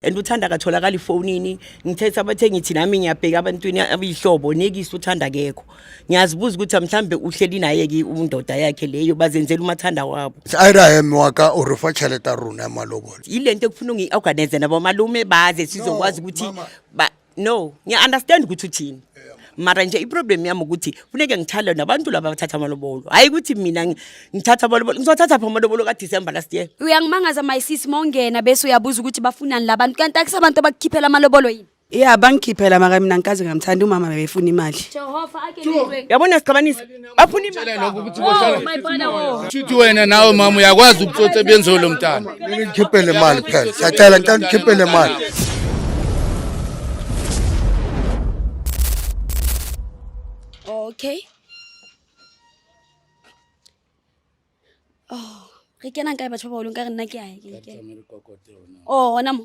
and uthanda akatholakali efonini ngithetha abathe ngithi nami ngiyabheka abantwini abiyihlobo nekisi uthanda kekho ngiyazibuza ukuthi mhlambe uhleli naye ke undoda yakhe leyo bazenzela umathanda wabo iraham waka urufa chaleta runa malobolo yilento ekufuna ungi-organize nabo malume baze sizokwazi ukuthi no ngiya-understand ukuthi uthini mara nje iproblem yami ukuthi funeke ngithale nabantu laba bathatha amalobolo hhayi ukuthi mina ngi- ngithatha amalobolo ngizothatha phi amalobolo kadecember last year uyangimangaza my sis mongena bese uyabuza ukuthi bafunani labantu kanti akusabantu abakukhiphela amalobolo yini ya bangikhiphela maka mina ngikaze ngamthanda umama bebefuna imali jehova ake yabona sixabanisa bafuna imalshuthi oh, wena nawe mama uyakwazi ukutsotsa ebenziwe lo mntana ngikhiphele mali phela siyacela ngicela ngikhiphele mali okay oh re kenang kae batho ba baolong ka re nna ke ae o gona mo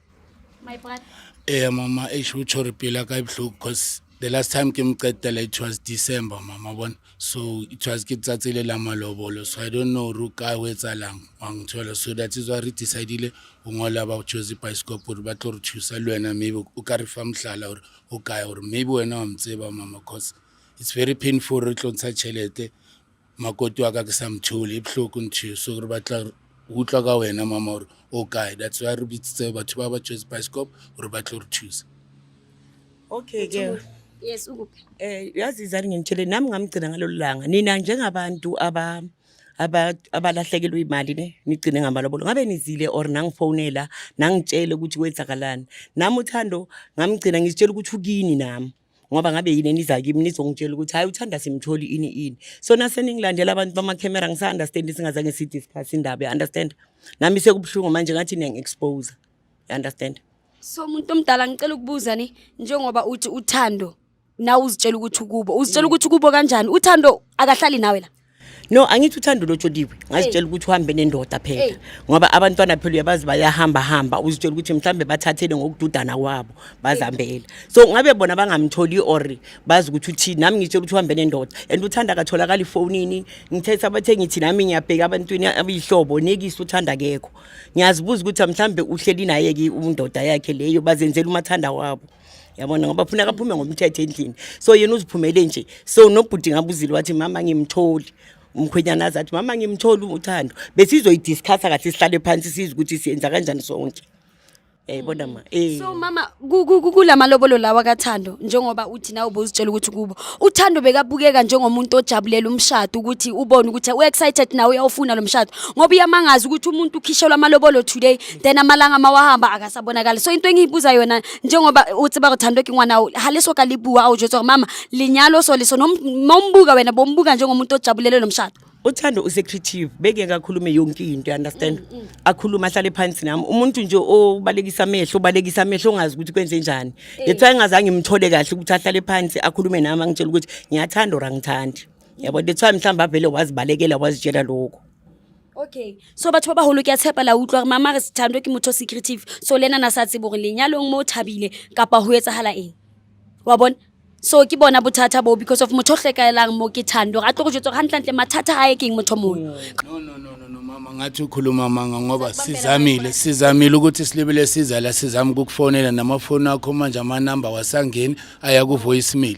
my brother eh mama eish utsho repile akayibuhlungu because the last time ke mqedela it was december mama bona so it was ke tsatsile la malobolo so i don't know ru ka o etsalang wa ngithola so that is why re decidile o ngola ba choose bioscope gore ba tlo re thusa le wena maybe o ka re fa mohlala gore o kae gore maybe wena wa mtseba mama cause it's very painful re tlo ntsha tšhelete makoti wa ka ke sa mthole e bohloko ntho so re batla utlwa ka wena mama gore o kae that's why re bitsitse batho ba ba tshwetse bioscope gore ba tlo re thusa okay girl yes ukuphi eh yazi izani ngimtshele nami ngamgcina ngalolu langa nina njengabantu aba aba- abalahlekelwe imali ne nigcine ngamalobolo ngabe nizile or nangifonela nangitshele ukuthi kwenzakalani nami uthando ngamgcina ngizitshela ukuthi ukini nami ngoba ngabe yini eniza kimi nizongitshela ukuthi hayi uthanda simtholi ini ini so naseningilandela abantu bamakhemera ngisa-understand singazange si-discuss indaba you-understand nami sekubuhlungu manje ngathi niyangi-expose you-understand so umuntu omdala ngicela ukubuza ni njengoba uthi uthando nawe uzitshela ukuthi ukubo uzitshela mm. ukuthi ukubo kanjani uthando akahlali nawe la No angithi uthanda ulotsholiwe ngazitshela ukuthi uhambe nendoda phela ngoba abantwana phela uyabazi bayahamba hamba uzitshela ukuthi mhlambe bathathele ngokududana kwabo bazambela so ngabe bona bangamtholi or bazi ukuthi uthi nami ngitshela ukuthi uhambe nendoda and uthanda akatholakala ifonini ngithethe abathe ngithi nami ngiyabheka abantwini abiyihlobo nekisi uthanda kekho ngiyazibuza ukuthi mhlambe uhleli naye ke umundoda yakhe leyo bazenzela umathanda wabo yabona ngoba funa kaphume ngomthetho endlini so yena uziphumele nje so nobhuti ngabuzile wathi mama ngimtholi umkhwenyana aze athi mama ngimtholi uthando besizoyidiscussa kahle sihlale phansi sizi ukuthi siyenza kanjani sonke yayibona eh, ma eh. so mama kulamalobolo lawa kathando njengoba uthi nawe ubuzitshela ukuthi kubo uthando bekabukeka njengomuntu ojabulela umshado ukuthi ubone ukuthi u-excited nawe uyawufuna lo mshado ngoba uyamangaza ukuthi umuntu ukhishelwa amalobolo today then amalanga mawahamba akasabonakali so into engiyibuza yona njengoba uthi bakuthandwe ke ngwana ha leso ka libuwa awujwetswa gore mama linyalo so leso nombuka wena bombuka njengomuntu ojabulele lo mshado uthando usecreative beke kakhulume yonke into understand mm, mm. akhuluma ahlale phansi nami umuntu nje obalekisa amehlo obalekisa amehlo ongazi ukuthi kwenze njani eh. yethu engazange imthole kahle ukuthi ahlale phansi akhulume nami angitshela ukuthi ngiyathanda or angithandi yabo that's why mhlawumbe avele wazibalekela wazitshela lokho okay so batho ba bagolo ke a tshepa la utlwa gore mama re sethando ke motho secretive so le ena na sa tsebo gore lenyalong mo o thabile kapa go etsagala eng wa bone so ke bona bothata boo because of motho o tlekaelang mo ke thando gore a tlo go jetsa gore gantlentle mathata a e keng motho mongwe no no no no no mama ngathi ukhuluma manga ngoba sizamile sizamile ukuthi silibele siza la sizama ukukufonela namafoni akho manje amanamba wasangeni aya ku voicemail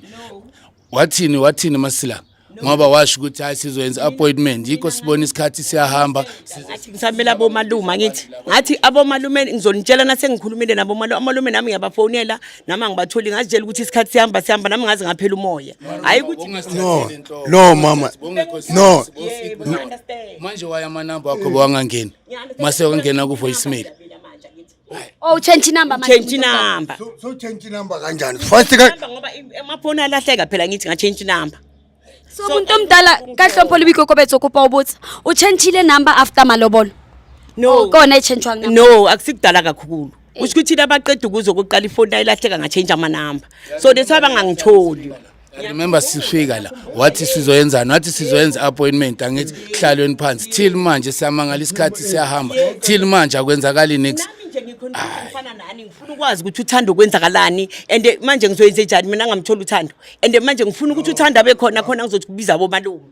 wathini wathini masila ngoba washo ukuthi hayi sizoyenza appointment yikho sibona isikhathi siyahamba ngathi ngisamele abomalume ngithi ngathi abomalume ngizonitshela nase ngikhulumile nabo amalume nami ngiyabafonela nami angibatholi ngazitshela ukuthi isikhathi sihamba sihamba nami ngaze ngaphela umoya hayi ukuthi no no mama no manje waya amanamba akho bawangangeni mase wangena ku voicemail Oh change number manje. Change number. So, so change number kanjani? First ka ngoba emaphone alahleka phela ngithi nga change number. So umuntu omdala ka hlompo libiko kobetso kupa ubutsa. U change le number after malobolo. No. Oh, kona e change wanga. No, akusikudala kakhulu. Eh. Usho ukuthi abaqeda ukuzo kuqala ifoni layilahleka nga change ama number. So that's why bangangitholi. remember sifika la wathi sizoyenzani wathi sizoyenza appointment angithi kuhlalweni phansi till manje siyamangala isikhathi siyahamba till manje akwenzakali next ngifana nani ngifuna ukwazi ukuthi uthanda ukwenzakalani and manje ngizoyenze njani mina ngamthola uthando and manje ngifuna ukuthi uthanda abe khona khona ngizothi kubiza bomalume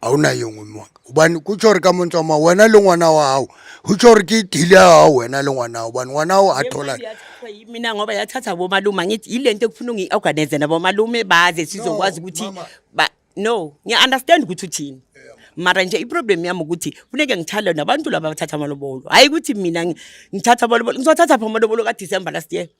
a wu na yin'we mhaka ubani ku tsho ri ka montswama wena le n'wana wa hawu hu tsho ri ki dile ya hawu wena le n'wana wa ubani n'wana wa a thola mina ngoba yathatha bomalume angithi yile nto ekufuna ungi-organize nabomalume baze sizokwazi ukuthi no ngiya-understand ukuthi uthini mara nje iproblem yami ukuthi funeke ngithale nabantu laba bathatha amalobolo hhayi ukuthi mina ngithatha amalobolo ngizothatha phi amalobolo kadisemba last year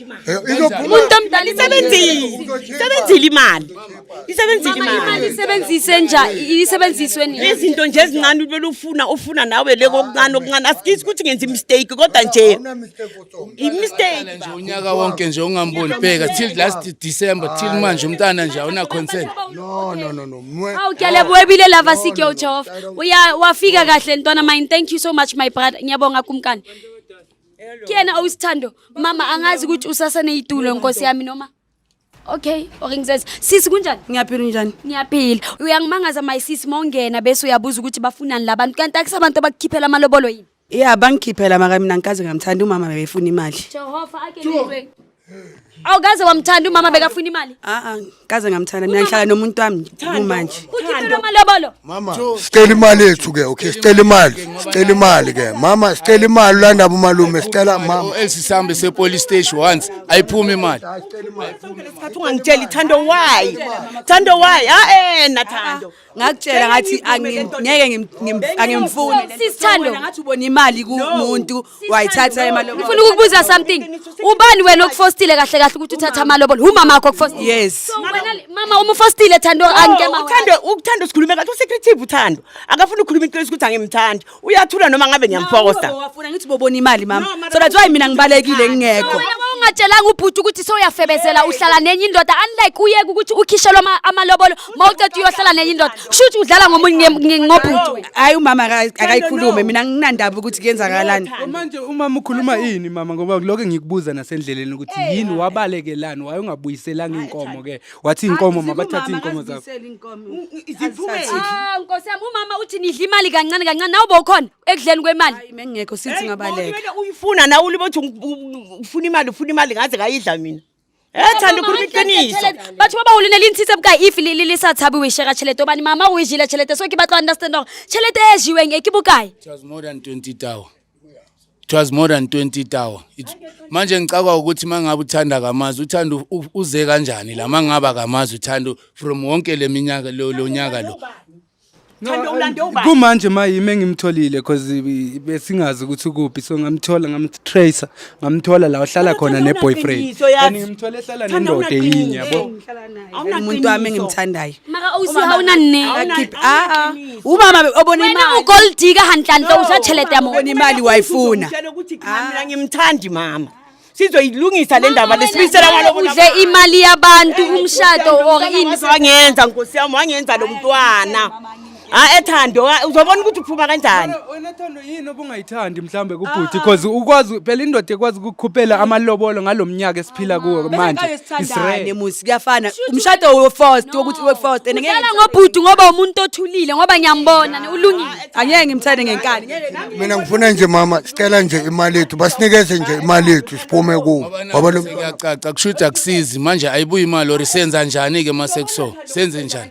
Eh, umuntu omdala isebenzile isebenzile imali isebenzile imali isebenzise nja isebenziswe nini izinto nje ezincane ubele ufuna ufuna nawe le kokuncane okuncane asikisi ukuthi ngenza imistake kodwa nje imistake nje unyaka wonke nje ungamboni bheka till last december till manje umntana nje awuna concern no no no no awu kyale webile lava sikyo uJehova uya wafika kahle ntwana mine thank you so much my brother ngiyabonga kumkani kuyena owusithando mama angazi ukuthi usaseneyitulo nkosi yami noma okay or ngizenze sisi kunjani ngiyaphila njani ngiyaphila uyangimangaza my sisi mawungena bese uyabuza ukuthi bafunani la bantu kanti akusabantu abakukhiphela amalobolo yini ya bangikhiphela maka mina ngikaze ngamthanda umama bebefuna imali jehova ake Awukaze wamthanda umama bekafuna imali. Ah ah, kaze ngamthanda mina ngihlala nomuntu wami kumanje. Ukhipha amalobolo. Mama, sicela imali yethu ke, okay? Sicela imali. Sicela imali ke. Mama, sicela imali landa umalume, sicela mama. Elsi sambe se police station once. Ayiphumi imali. Sikhathi ungangitsheli Thando why? Thando why? Ah eh na Thando. ngakutshela ngathi ngeke angimfuni sisithando ngathi ubona imali kumuntu wayithatha imali ngifuna ukukubuza something ubani wena okufostile kahle kahle ukuthi uthatha amalobolo umama wakho okufostile yes mama uma ufostile thando angike mama uthando uthando sikhulume kahle usecreative uthando akafuni ukukhuluma iqiniso ukuthi angimthandi uyathula noma ngabe ngiyamfokosa wafuna ngithi bobona imali mama so that's why mina ngibalekile ngingekho ungatshelanga ubhuti ukuthi soyafebezela uhlala nenye indoda unlike uyeke ukuthi ukhishelwe amalobolo ma uceda uyohlala nenye indoda kusho ukuthi udlala ngomunye ngobhuti hayi umama akayikhulume mina nginandaba ukuthi kuyenzakalani manje umama ukhuluma ini mama ngoba lokho engikubuza nasendleleni ukuthi yini wabalekelani waye ungabuyiselanga inkomo ke wathi inkomo mabathathe inkomo zakho Ah, Nkosi yami umama uthi nidla imali kancane kancane nawe bowukhona ekudleni kwemali. Hayi mengekho sithi ngabaleka. Kumele uyifuna nawe ulibe uthi u- u- ufuna imali ufuna imali ngaze ngayidla mina Eh thanda ukhuluma iqiniso Batho ba ba ulina le ntshitse buka if le le le sa tshabe we share chelete obani mama o e jile chelete so ke batla understand hore chelete e jiweng e ke bokae It was more than 20 tau. it was more than 20 tower manje ngicakwa ukuthi mangabe uthanda kamazi uthanda uze kanjani la mangaba kamazi uthanda from wonke leminyaka lo lonyaka lo Thando ulande ubani? Kumanje mayime ngimtholile because besingazi ukuthi kuphi so ngamthola ngamtracer ngamthola la uhlala khona ne boyfriend Unaqiniswa yazi. and ngimthola ehlala Thanda nendoda unaqiniswa. enye yabo Ngihlala naye. Awunaqiniso. umuntu wami engimthandayo mara o se ha o na nne Awuna- Keep- ah, ah. awunaqiniso. umama be- obona wena imali o gold digger hantlantle o ja tšhelete ya mona Ubona imali wayifuna. Uzomtshela ukuthi cha mina ngimthandi mama sizoyilungisa le ndaba lesibisela ngaloko udle imali yabantu umshado or ini wangenza nkosi yami wangenza lo mntwana ha ethando ha, uzobona ukuthi uphuma kanjani Wena- wena thando yini obungayithandi mhlawumbe kubhuti because ukwazi phela indoda ekwazi ukukhuphela amalobolo ngalo mnyaka esiphila kuwo manje It's besingayesithandane rare. musi kuyafana umshado wefost wokuthi wefost and ngeke Udlala ngobhuti ngoba umuntu othulile ngoba ngiyambona ne- ulungile. angeke ngimthande ngenkani ngeke nami mina ngifuna nje mama sicela nje imali yethu basinikeze nje imali yethu siphume kuwo ngoba lo mntwana- kuyacaca kusho ukuthi akusizi manje ayibuyi imali or senza njani-ke uma sekuso senze njani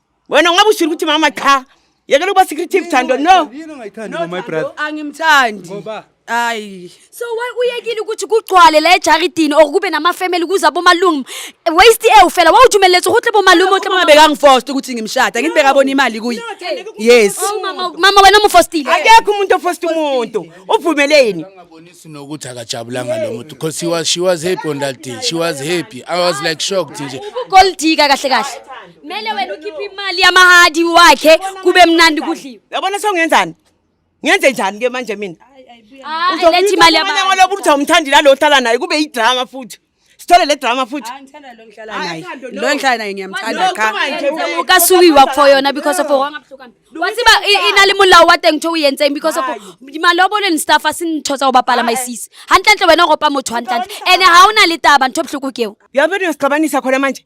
wena ungabe ushilo ukuthi mama cha yekela ukuba secretive thando no yini ongayithandi no, my brother angimthandi ngoba hayi so why uyekile ukuthi kugcwale la ejaridini or kube namafamily kuza bomalume waste e ufela wawujumeletse ukuthi bomalume uthi mama bekangifosta ukuthi ngimshada ngithi bekabona imali kuyi yes oh, mama wena umufostile akekho umuntu ofosta umuntu uvumeleni ngabonisi nokuthi akajabulanga lo muntu because she was she was happy on that day she was happy i was like shocked nje gold digger kahle kahle Mele wena ukhiphe imali yamahadi wakhe kube mnandi kudliwe. Yabona songenzani? Ngenze njani ke manje mina? Hayi lethi imali yamahadi. Ngoba lobu uthi awumthandi la lo ohlala naye kube idrama futhi. Sithole le drama futhi. Angithanda lo ngihlala naye. Lo ngihlala naye ngiyamthanda cha. Ka suki wa for yona because of wanga buhlukana. Wathi ba inali mulawo wa teng thowi yentseng because of malobolo ni staff asinithosa ubapala my sis. Hantle ntle wena ngopa motho hantle. Ene ha una le taba ntho buhluku keo. Yabona usixabanisa khona manje.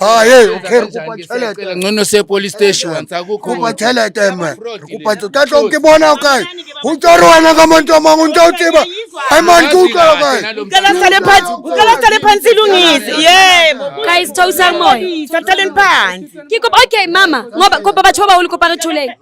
Ah, hey, okay, re kopa tšhelete. Ngcono se police station wa ntsa go kopa tšhelete me. Re kopa tšo tla tlo ke bona o kae. Ho tswa re wena ka motho mang o ntse o tseba. Ai man ke utlwa o kae. Ukala sale phansi, ukala sale phansi lungise. Yebo. Guys, thousang moya. Sathalen phansi. Ke kopa okay mama, ngoba kopa batho ba baholo kopa re tholeng.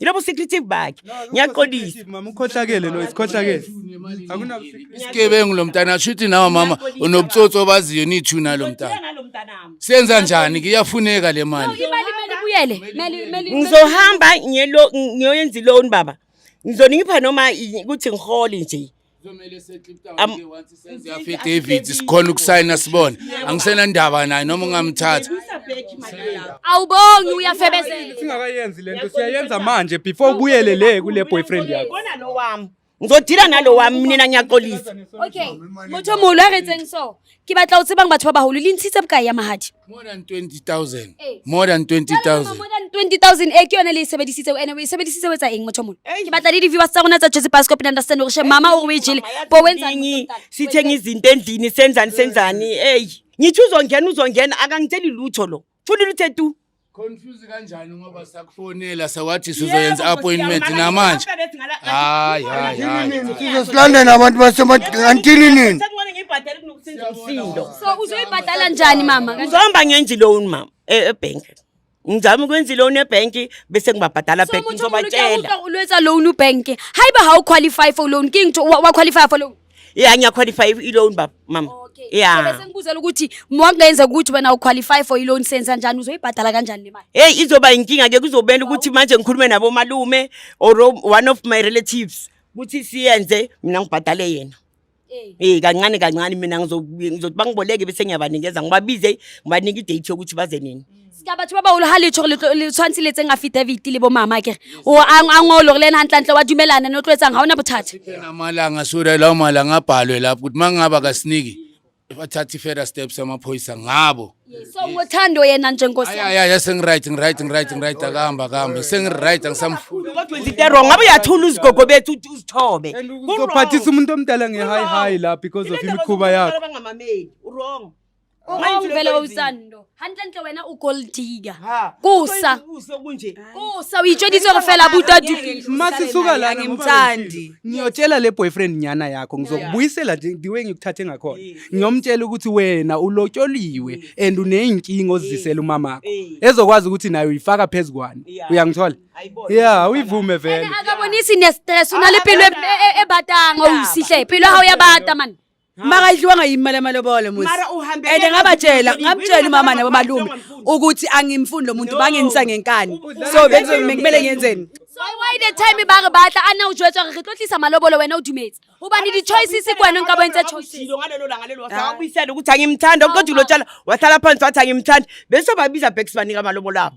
yilobo secretive bakhe ngiyaqolisa mama ukhohlakele lo isikhohlakele isigebengu lo mntana asho ukuthi nawe mama unobutsotsi obaziyo nithuna lo mntana senza njani kuyafuneka le mali ngizohamba ngiyoyenza iloni baba ngizonipha noma ukuthi ngihole nje kuzomele seklipta Am- wonke once senze Ngifike affidavit affidavit. sikhona ukusayina sibone angisenandaba naye noma ungamthatha awubongi uyafebezela singakayenzi lento siyayenza manje before ubuyele le kule boyfriend yakho Bona lo wami. Ngizodila nalo wami mina ngiyaxolisa. okay motho molo a retseng so ke batla o tsebang batho ba baholo le ntshitse bokae ya mahadi more than 20000 eh. more than 20000 more than 20000 e ke yone le e sebedisitse ene o e sebedisitse o etsa eng motho mona ke batla le di-viewers tsa rona tsa jose pascop and understand gore she mama o re o e jele bo wenzani sithenga izinto endlini senzani senzani eyi ngithi uzongena uzongena akangitsheli lutho lo Fundile uthe tu. Confuse kanjani ngoba sakufonela sawathi sizoyenza appointment namanje. Hayi hayi hayi. Sizosilandela abantu basemantini nini? Sekubona ngibhadela kunokusenza umsindo. So uzoyibhadala njani mama? Kanjani? Ngizohamba ngenza i-loan mama e- ebank. Ngizama ukwenza i-loan ebank bese ngibabhadala So back mutsho umuntu ngizobatshela. uyakuhlwa ulwetsa loan ubank. Hayiba hawuqualify for loan. King to wa qualify for loan. Yeah ngiya qualify i loan baba mama. Okay. Yeah. Bese ngibuzela ukuthi mwangenza ukuthi wena u qualify for i loan sense kanjani uzoyibhadala kanjani le mali? Hey izoba inkinga ke kuzobela ukuthi manje ngikhulume nabo malume or one of my relatives ukuthi siyenze mina ngibhadale yena. Eh. Eh kancane kancane mina ngizothi bangiboleke bese ngiyabanikeza ngibabize ngibanike i date yokuthi baze nini. seka batho ba bagolo ga letsho le tshwanetse le tseng affidavit le bo mama kere o a ngolo gore le ene gantlantle wa dumelana ne o tlo etsang ga ona bothata amalanga sure lawo malanga abhalwe lapho ukuthi uma ngingaba kasiniki bathatha i-further steps amaphoyisa ngabo so ngothando yena njenkosi ayaya sengiright ngiright ngiright ngiright akahamba akahamba sengiright angisamfuni kodwa into wrong ngabe uyathula uzigogo bethu uthi uzithobe uzophathisa umuntu omdala nge-high high la because of imikhuba yakho bangamameli wrong O re o fela o utsang ndo. Hantle ntle wena o gold digger. Ha. Kusa. Kusa kunje. Kusa o itsheditse re fela buta dukile. Mase suka la ngimthandi. Ngiyotshela le boyfriend nyana yakho ngizokubuyisela the way ngikuthathe ngakhona. Ngiyomtshela ukuthi wena ulotyoliwe and uneyinkinga ozisela umama wakho. Ezokwazi ukuthi nayo uyifaka phezukwani. Uyangithola? Yeah, uyivume vele. Akabonisi ne stress unale pelo ebatanga usihle. Pelo ha uyabata man. makayidliwanga yimi imali yamalobolo musi Mara uhambele and ngabatshela ngamtshela ngamtshela umama nabo malume ukuthi angimfuni lo muntu bangenisa ngenkani so benze kumele ngenzeni So why the time ba re batla a na o jwetswa re re tlo tlisa malobolo wena o dumetse hobane di-choices ke wena o nka bontse choices Ushilo ngalelo langa lelo wasakubuyisela ukuthi angimthanda kodwa ulo tshala wahlala phansi wathi angimthanda bese babiza back sibanika amalobolo abo